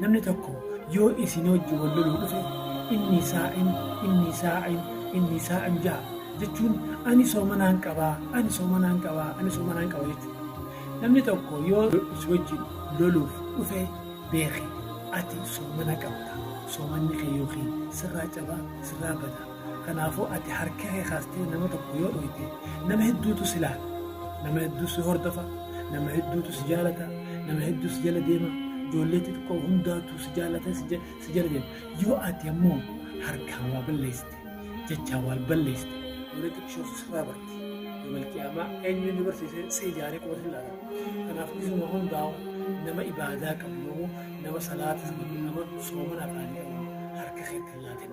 Namni tokko yoo isin wajjin wal loluu dhufe inni saa'im inni saa'im inni saa'im ja'a jechuun ani soomanaan qaba ani soomanaan qaba ani soomanaan qaba jechuudha. Namni tokko yoo isin wajjin loluuf dhufe beeki ati soomana qabda soomanni kee yookiin sirraa caba sirraa bada. Kanaafuu ati harka kee kaastee nama tokko yoo dhooyte nama hedduutu si laala. Nama hedduu si hordofa. Nama hedduutu si jaalata. Nama hedduu si jala deema. Ijoollee xixiqqoo hundaatu si jaalata si ja- si jala deema. Yoo ati ammoo harkaan waa balleessite jechaan waa balleessite ijoollee xixiqqoo sirraa barti. Yoomal qiyaamaa eenyu inni barsiisee si ijaaree qofa si laala. Kanaaf isuma hundaa'u nama ibaadaa qabu nama salaata qabu nama soomana afaanii qabu harka keetti hin laatin.